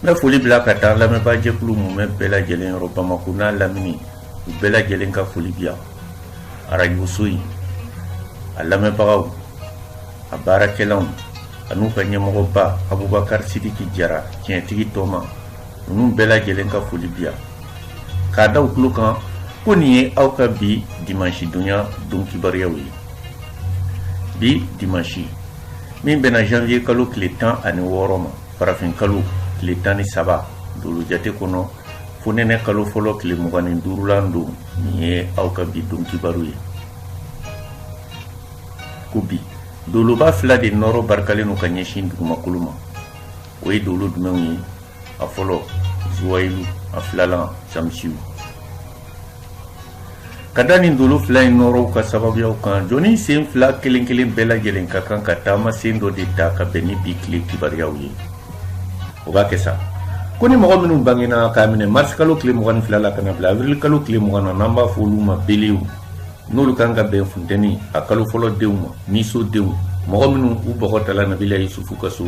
n bɛ foli bila ka taa lamɛnbaa jɛkulu mumɛ bɛɛ lajɛlen yɔrɔ bamako n'a lamini u bɛɛ lajɛlen ka foli bi yan arajoso in a lamɛnbagaw a baarakɛlaw an'u ka ɲɛmɔgɔba abubakar sidiki jara tiɲɛtigi tɔma ninnu bɛɛ lajɛlen ka foli bi yan k'a da u tulo kan ko nin ye aw ka bi dimansi donya don kibaruyaw ye bi dimansi min bɛnna janvier kalo tile tan ani wɔɔrɔ ma farafin kalo tile tan ni saba dolo jate kɔnɔ fonɛnɛ kalo fɔlɔ tile mugan ni duurulan don nin ye aw ka bi don kibaru ye ko bi doloba fila de nɔɔrɔ barikalen don ka ɲɛsin dugumakolo ma o ye dolo jumɛnw ye a fɔlɔ zuwayilu a filalan samisiw ka da nin dolo fila in nɔɔrɔw ka sababuyaw kan jɔnni sen fila kelen-kelen bɛɛ lajɛlen ka kan ka taama sen dɔ de ta ka bɛn ni bi tile kibaruyaw ye o b'a kɛ sa ko ni mɔgɔ minnu bangena k'a minɛ marisikalo tile mugan ni fila la ka n'a bila awirilkalo tile mugan na n'an b'a fɔ olu ma belew n'olu kan ka bɛn funtɛni a kalo fɔlɔ denw ma niso denw mɔgɔ minnu u bɔgɔ tala nabila yusufu ka so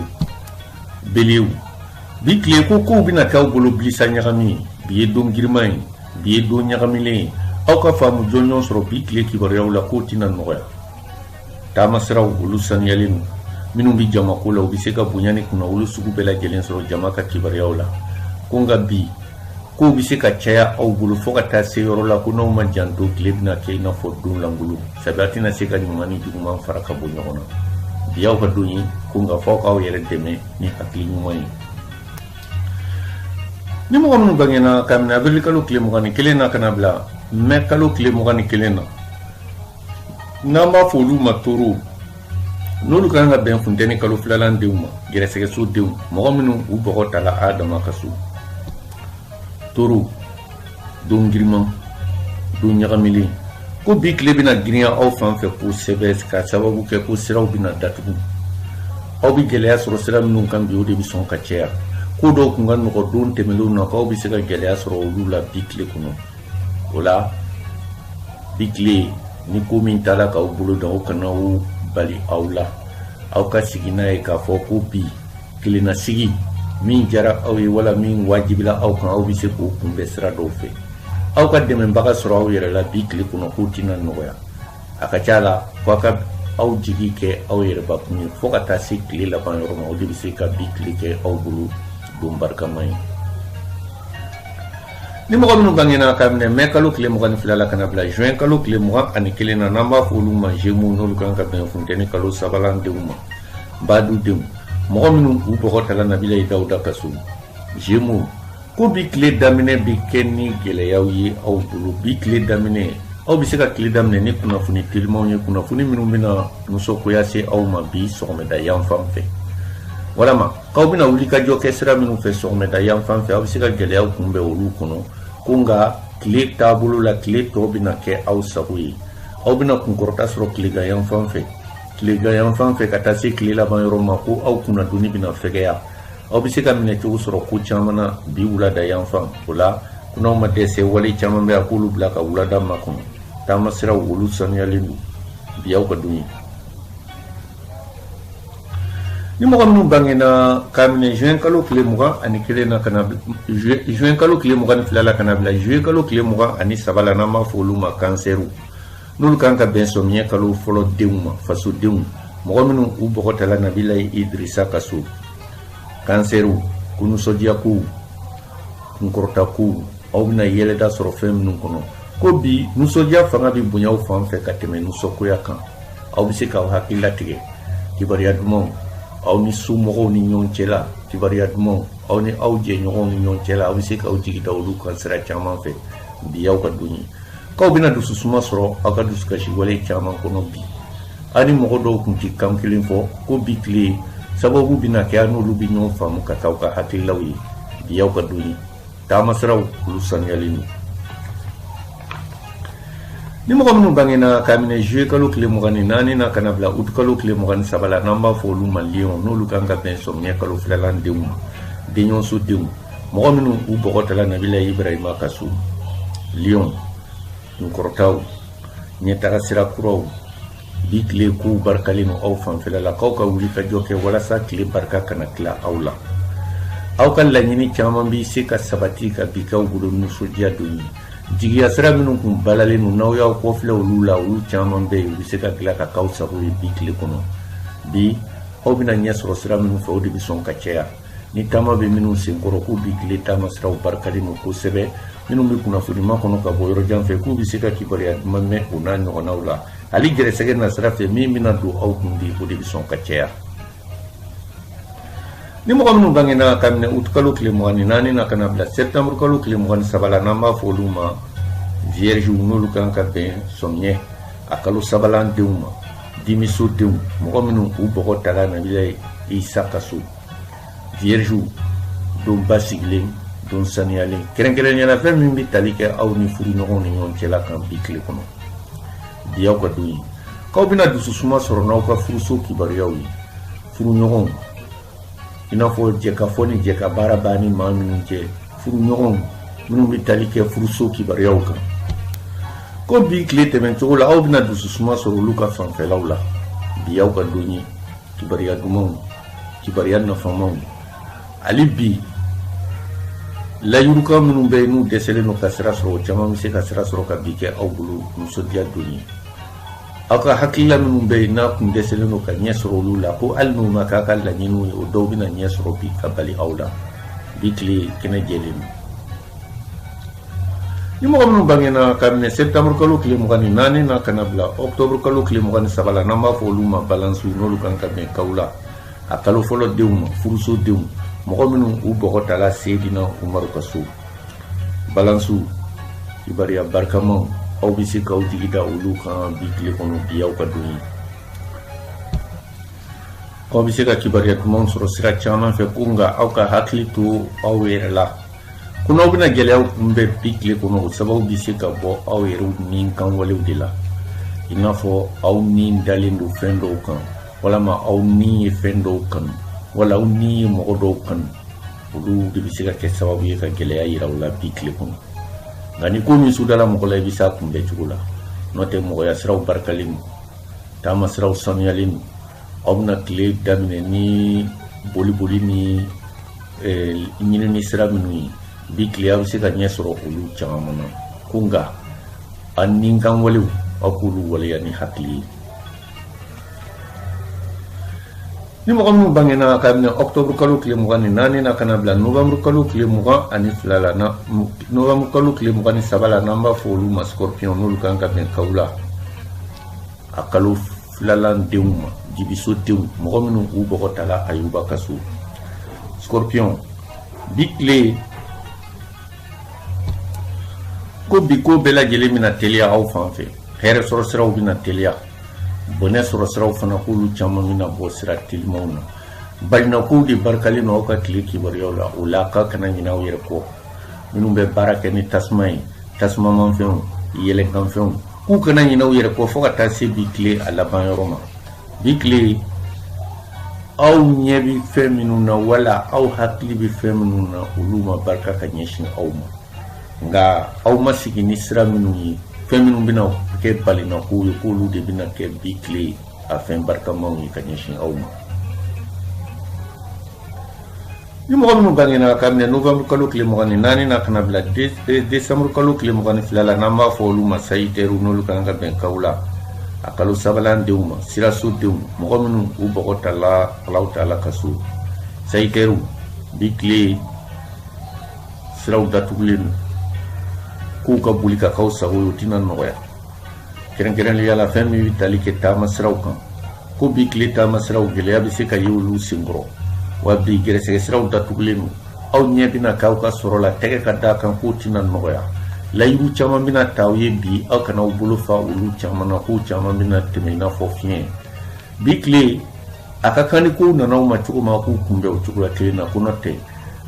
belew bi tile ko kow bɛna k'aw bolo bilisa ɲagami ye bi ye don giriman ye bi ye don ɲagamilen ye aw ka faamu jɔnjɔn sɔrɔ bi tile kibaruyaw la k'o tɛna nɔgɔya taama siraw olu saniyalen don minnu bɛ jamako la u bɛ se ka bonya ni kunnawolo sugu bɛɛ lajɛlen sɔrɔ jama ka kibaruyaw la ko nka bi kow bɛ se ka caya aw bolo fo ka taa se yɔrɔ la ko n'aw ma janto tile bɛna kɛ i n'a fɔ don lankolon sabu a tɛna se ka ɲuman ni juguman fara ka bɔ ɲɔgɔn na bi y'aw ka don ye ko nka fo a k'aw yɛrɛ dɛmɛ ni hakili ɲuman ye ni mɔgɔ minnu bangena k'a minɛ abirili kalo tile mugan ni kelen na ka n'a bila mɛ kalo tile mugan ni kelen na n'an b'a fɔ olu ma toro n'olu ka kan ka bɛn funtɛni kalo filalan denw ma gɛrɛsɛgɛso denw mɔgɔ minnu u bɔgɔ tala adama ka so toro don giriman don ɲagamilen ko bi tile bɛna girinya aw fan fɛ kosɛbɛ ka sababu kɛ ko siraw bɛna datugu aw bɛ gɛlɛya sɔrɔ sira minnu kan bi o de bɛ sɔn ka caya ko dɔw tun ka nɔgɔ don tɛmɛnlenw na k'aw bɛ se ka gɛlɛya sɔrɔ olu la bi tile kɔnɔ o la bi tile ni ko min taara k'aw bolo dan o kana o bali aw la aw ka sigi n'a ye k'a fɔ ko bi kelennasigi min diyara aw ye wala min wajibila aw kan aw bɛ se k'o kunbɛn sira dɔw fɛ aw ka dɛmɛbaga sɔrɔ aw yɛrɛ la bi tile kɔnɔ k'o tɛna nɔgɔya a ka ca a la fo a ka aw jigi kɛ aw yɛrɛbakun ye fo ka taa se tile laban yɔrɔ ma o de bɛ se ka bi tile kɛ aw bolo don barikama ye ni mɔgɔ minnu bangena ka minɛ mɛ kalo tile mugan ni fila la ka na bila juin kalo tile mugan ani kelen na n'an b'a fɔ olu ma gémeaux n'olu kan ka bɛn funteni kalo sabalan denw ma badu denw mɔgɔ minnu u bɔgɔ tala nabilayi dawuda ka so gémeaux ko bi tile daminɛ bɛ kɛ ni gɛlɛyaw ye aw bolo bi tile daminɛ aw bɛ se ka tile daminɛ ni kunnafoni telimanw ye kunnafoni minnu bɛna nisɔngoya se aw ma bi sɔgɔmada yan fan fɛ walama aw bɛna wulikajɔ kɛ sira minnu fɛ sɔgɔmada yan fan fɛ aw bɛ se ka gɛlɛyaw kunbɛn olu kɔnɔ ko nka tile taabolo la tile tɔ bɛna kɛ aw sago ye aw bɛna kunkɔrɔta sɔrɔ tilegan yan fan fɛ tilegan yan fan fɛ ka taa se tile laban yɔrɔ ma ko aw kunnadonni bɛna fɛgɛya aw bɛ se ka minɛcogo sɔrɔ ko caman na bi wulada yan fan o la ko n'aw ma dɛsɛ wale caman bɛ aw k'olu bila ka wulada makɔnɔ taama siraw olu sanuyalen don bi aw ka don ye Ni mɔgɔ minnu bangena ka minɛ juin kalo tile mugan ani kelen na juin kalo tile mugan ni fila la ka na bila juillet kalo tile mugan ani saba la n'an b'a fɔ olu ma kansɛriw n'olu kan ka bɛn sɔmiɲɛ kalo fɔlɔ denw ma fasodenw mɔgɔ minnu u bɔgɔ tala nabila idrisa ka so kansɛriw ko nisɔndiyakow kunkɔrɔtakow aw bɛna yɛlɛda sɔrɔ fɛn minnu kɔnɔ ko bi nisɔndiya fanga bɛ bonya aw fan fɛ ka tɛmɛ nisɔngoya kan aw bɛ se k'aw hakili latigɛ kibaruya dumanw aw ni somɔgɔw ni ɲɔgɔn cɛla kibaruya dumanw aw ni aw jɛɲɔgɔnw ni ɲɔgɔn cɛla aw bɛ se k'aw jigi da olu kan sira caman fɛ bi aw ka don ye k'aw bɛna dususuma sɔrɔ aw ka dusukasi wale caman kɔnɔ bi aw ni mɔgɔ dɔw tun ti kan kelen fɔ ko bi tile sababu bɛna kɛ aw n'olu bɛ ɲɔgɔn faamu ka k'aw ka hakililaw ye bi aw ka don ye taama siraw olu sanuyalen don ni mɔgɔ minnu bangena ka minɛ juillet kalo tile mugan ni naani na ka na bila août kalo tile mugan ni saba la n'an b'a fɔ olu ma lion n'olu kan ka bɛn sɔmiɲɛ kalo filalan denw ma denɲɔgɔnso denw mɔgɔ minnu u bɔgɔ tala nabila ibrahima ka so lion kɔrɔtaw ɲɛtaga sira kuraw bi tile kow barikalen no aw fanfɛla la k'aw ka wulikajɔ kɛ walasa tile barika kana tila aw la aw ka laɲini caman bɛ se ka sabati ka bi k'aw bolo nisɔndiya don ye jigiya sira minnu kun balalen don n'aw y'aw kɔfilɛ olu la olu caman bɛ yen u bɛ se ka dilan ka k'aw sago ye bi tile kɔnɔ bi aw bɛna ɲɛ sɔrɔ sira minnu fɛ o de bɛ sɔn ka caya ni taama bɛ minnu senkɔrɔ k'u bi tile taama siraw barikalen don kosɛbɛ minnu bɛ kunnafoni makɔnɔ ka bɔ yɔrɔjan fɛ k'u bɛ se ka kibaruya duman mɛn o n'a ɲɔgɔnnaw la hali gɛrɛsɛgɛ na sira fɛ min bɛna don aw kun bi o de bɛ sɔn ka caya ni mɔgɔ minnu bangena ka minɛ août kalo tile mugan ni naani na ka na bila sɛptanburu kalo tile mugan ni saba la n'an b'a fɔ olu ma vierge n'olu kan ka bɛn sɔmiɲɛ a kalo sabalan denw ma dimiso denw mɔgɔ minnu u bɔgɔ tala nabila isa ka so viergew don basigilen don saniyalen kɛrɛnkɛrɛnnenya la fɛn min bɛ tali kɛ aw ni furuɲɔgɔnw ni ɲɔgɔn cɛla kan bi tile kɔnɔ bi aw ka don ye k'aw bɛna dususuma sɔrɔ n'aw ka furuso kibaruyaw ye furuɲɔgɔnw i n'a fɔ jɛkafɔ ni jɛkabaara b'a ni maa minnu cɛ furuɲɔgɔnw minnu bɛ tali kɛ furuso kibaruyaw kan ko bi tile tɛmɛcogo la aw bɛna dususuma sɔrɔ olu ka fanfɛlaw la bi y'aw ka don ye kibaruya dumanw kibaruya nafamaw hali bi layirukan minnu bɛ yen n'u dɛsɛlen don ka sira sɔrɔ o caman bɛ se ka sira sɔrɔ ka bi kɛ aw bolo nisɔndiya don ye aw ka hakilila minnu bɛ yen n'a kun dɛsɛlen don ka ɲɛ sɔrɔ olu la ko hali n'u ma k'a ka laɲiniw ye o dɔw bɛna ɲɛ sɔrɔ bi ka bali aw la bi tile kɛnɛ jɛlen don ni mɔgɔ minnu bangena ka minɛ septembre kalo tile mugan ni naani na ka n'a bila octobre kalo tile mugan ni saba la n'an b'a fɔ olu ma balansiw n'olu kan ka bɛn kawula a kalo fɔlɔ denw ma furuso denw mɔgɔ minnu u bɔgɔ tala seedina umaru ka so balansiw kibariya barikamaw aw bɛ se k'aw jigi da olu kan bi tile kɔnɔ bi aw ka don ye aw bɛ se ka kibaruya dumanw sɔrɔ sira caman fɛ ko nka aw ka hakili to aw yɛrɛ la ko n'aw bɛna gɛlɛyaw kunbɛn bi tile kɔnɔ o sababu bɛ se ka bɔ aw yɛrɛw nikanwalew de la i n'a fɔ aw ni dalen don fɛn dɔw kan walima aw ni ye fɛn dɔw kanu wala aw ni ye mɔgɔ dɔw kanu olu de bɛ se ka kɛ sababu ye ka gɛlɛya yira aw la bi tile kɔnɔ nka ni ko min sudala mɔgɔ la i bɛ s'a kunbɛn cogo la n'o tɛ mɔgɔya siraw barikalen don taama siraw sanuyalen don aw bɛna tile daminɛ ni boli boli ni eh, ɲinini sira minnu ye bi tile aw bɛ se ka ɲɛ sɔrɔ olu caman na ko nka a nikanwalew aw k'olu waleya ni hakili ye ni mɔgɔ minnu bangena ka minɛ ɔktɔburu kalo tile mugan ni naani na ka n'a bila novanburu kalo tile mugan ani fila la na novanburu kalo tile mugan ni saba la n'an b'a fɔ olu ma scorpion n'olu kan ka bɛn kawula kalo filalan denw ma jibiso denw mɔgɔ minnu u bɔgɔ tala ayuba ka so scorpion bi tile ko bi ko bɛɛ lajɛlen bɛna teliya aw fan fɛ hɛrɛ sɔrɔ siraw bɛna teliya bɔnɛ sɔrɔ siraw fana k'olu caman bɛna bɔ sira telimaw na balinakow de barikalen don aw ka tile kibaruyaw la o la k'aw kana ɲinɛ aw yɛrɛ kɔ minnu bɛ baara kɛ ni tasuma ye tasumamanfɛnw yɛlɛnkanfɛnw k'u kana ɲinɛ aw yɛrɛ kɔ fo ka taa se bi tile a laban yɔrɔ ma bi tile aw ɲɛ bɛ fɛn minnu na wala aw hakili bɛ fɛn minnu na olu ma barika ka ɲɛsin aw ma nka aw ma sigi ni sira minnu ye fɛn minnu bɛna kɛ balinakow ye k'olu de bɛna kɛ bi tile a fɛn barikamaw ye ka ɲɛsin aw ma Ni mɔgɔ minnu bangena ka minɛ novembre kalo tile mugan ni naani na ka na bila décembre kalo tile mugan ni fila la n'an b'a fɔ olu ma sayitɛriw n'olu kan ka bɛn kawule a kalo sabanan denw ma siraso denw mɔgɔ minnu u bɔgɔ tala alahu taala ka so sayitɛriw bi tile siraw datugulen don k'u ka boli ka k'aw sago ye o tɛna nɔgɔya kɛrɛnkɛrɛnnenya la fɛn min bɛ tali kɛ taama siraw kan ko bi tile taama siraw gɛlɛya bɛ se ka ye olu senkɔrɔ wa bi gɛrɛsɛgɛ siraw datugulen don aw ɲɛ bɛna k'aw ka sɔrɔ la tɛgɛ ka d'a kan k'o tɛna nɔgɔya layidu caman bɛna ta aw ye bi aw kana aw bolo fa olu caman na k'o caman bɛna tɛmɛ i n'a fɔ fiɲɛ bi tile a ka kan ni kow nana aw ma cogo ma k'u kunbɛn o cogoya kelen na ko n'o tɛ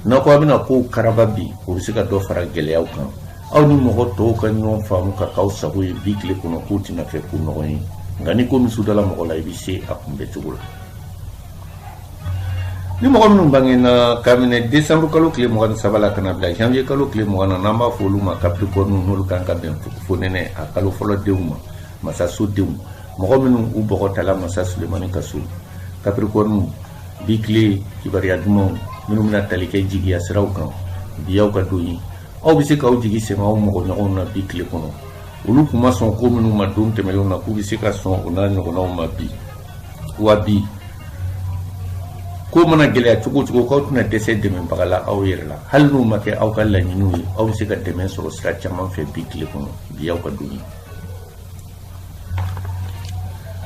n'aw ko aw bɛna kow karaba bi o bɛ se ka dɔ fara gɛlɛyaw kan aw ni mɔgɔ tɔw ka ɲɔgɔn faamu ka k'aw sago ye bi tile kɔnɔ k'o tɛna kɛ ko nɔgɔn ye nka ni ko min su dala mɔgɔ la i bɛ se a kunbɛncogo la ni mɔgɔ minnu bangena ka minɛ desanburu kalo tile mugan ni saba la ka na bila janvier kalo tile mugan na n'an b'a fɔ olu ma capricorne n'olu kan ka bɛn fonɛnɛ a kalo fɔlɔ denw ma masaso denw mɔgɔ minnu u bɔgɔ tala masa sulemani ka so capricorne bi tile kibaruya dumanw minnu bɛna tali kɛ jigiya siraw kan bi y'aw ka don ye aw bɛ se k'aw jigi sɛmɛ aw mɔgɔɲɔgɔnw na bi tile kɔnɔ olu tun ma sɔn ko minnu ma don tɛmɛnlenw na k'u bɛ se ka sɔn o n'a ɲɔgɔnnaw ma bi wa bi ko mana gɛlɛya cogo cogo k'aw tɛna dɛsɛ dɛmɛbaga la aw yɛrɛ la hali n'u ma kɛ aw ka laɲiniw ye aw bɛ se ka dɛmɛ sɔrɔ sira caman fɛ bi tile kɔnɔ bi y'aw ka don ye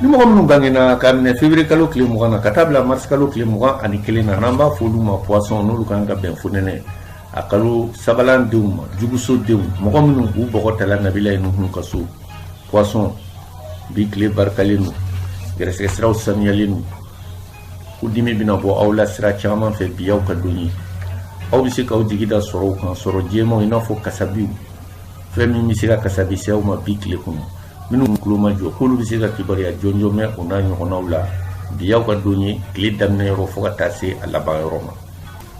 ni mɔgɔ minnu bangena ka minɛ février kalo tile mugan na ka taa bila marisi kalo tile mugan ani kelen na n'an b'a fɔ olu ma poisson n'olu kan ka bɛn fonɛnɛ a kalo sabanan denw ma juguso denw mɔgɔ minnu k'u bɔgɔ tala nabilayi nuhun ka so poisson bi tile barikalen don gɛrɛsɛgɛ siraw sanuyalen don ko dimi bɛna bɔ aw la sira caman fɛ bi y'aw ka don ye aw bɛ se k'aw jigi da sɔrɔw kan sɔrɔ jɛmanw i n'a fɔ kasabiw fɛn min bɛ se ka kasabi se aw ma bi tile kɔnɔ minnu tulo ma jɔ k'olu bɛ se ka kibaruya jɔnjɔn mɛn o n'a ɲɔgɔnnaw la bi y'aw ka don ye tile daminɛ yɔrɔ fo ka taa se a laban yɔrɔ ma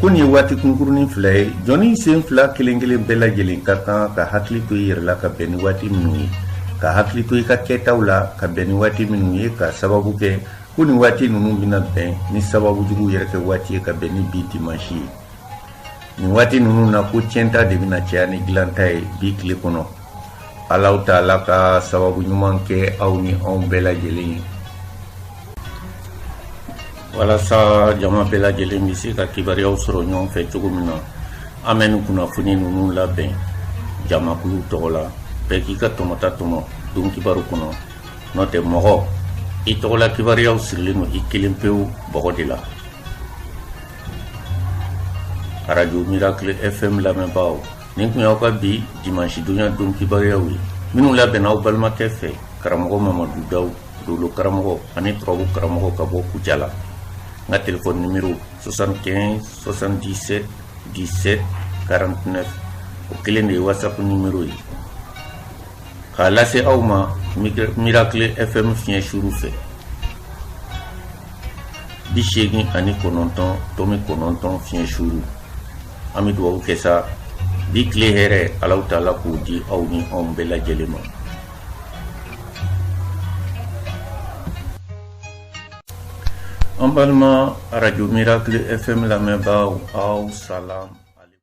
ko nin ye waati kunkurunin fila ye jɔnni sen fila kelen kelen bɛɛ lajɛlen ka kan ka hakili to i yɛrɛ la ka bɛn ni waati minnu ye ka hakili to i ka kɛtaw la ka bɛn ni waati minnu ye ka sababu kɛ ko nin waati ninnu bɛna bɛn ni sababu jugu yɛrɛ kɛ waati ye ka bɛn ni bi dimansi ye nin waati ninnu na ko tiɲɛta de bɛna caya ni dilanta ye bi tile kɔnɔ alaw taala ka sababu ɲuman kɛ aw ni anw bɛɛ lajɛlen ye walasa jama bɛɛ lajɛlen bɛ se ka kibaruyaw sɔrɔ ɲɔgɔn fɛ cogo min na an bɛ nin kunnafoni ninnu labɛn jamakulu tɔgɔ la bɛɛ k'i ka tɔmɔta tɔmɔ don kibaru kɔnɔ n'o tɛ mɔgɔ i tɔgɔla kibaruyaw sirilen don i kelen pewu bɔgɔ de la arajo miracle fm lamɛnbaaw nin tun y'aw ka bi dimansi donya don kibaruyaw ye minnu labɛnna aw balimakɛ fɛ karamɔgɔ mamadu daw dolo karamɔgɔ ani turabu karamɔgɔ ka bɔ kujala n ka telefɔni nimero 75 77 17 49 o kelen de ye whatsapp nimero ye k'a lase aw ma miracle fm fiɲɛ suru fɛ bi seegin ani kɔnɔntɔn tɔmi kɔnɔntɔn fiɲɛ suru an bɛ dugawu kɛ sa bi tile hɛrɛ alaw taala k'o di aw ni anw bɛɛ lajɛlen ma An balima arajo miracle FM lamɛnbaaw aw salam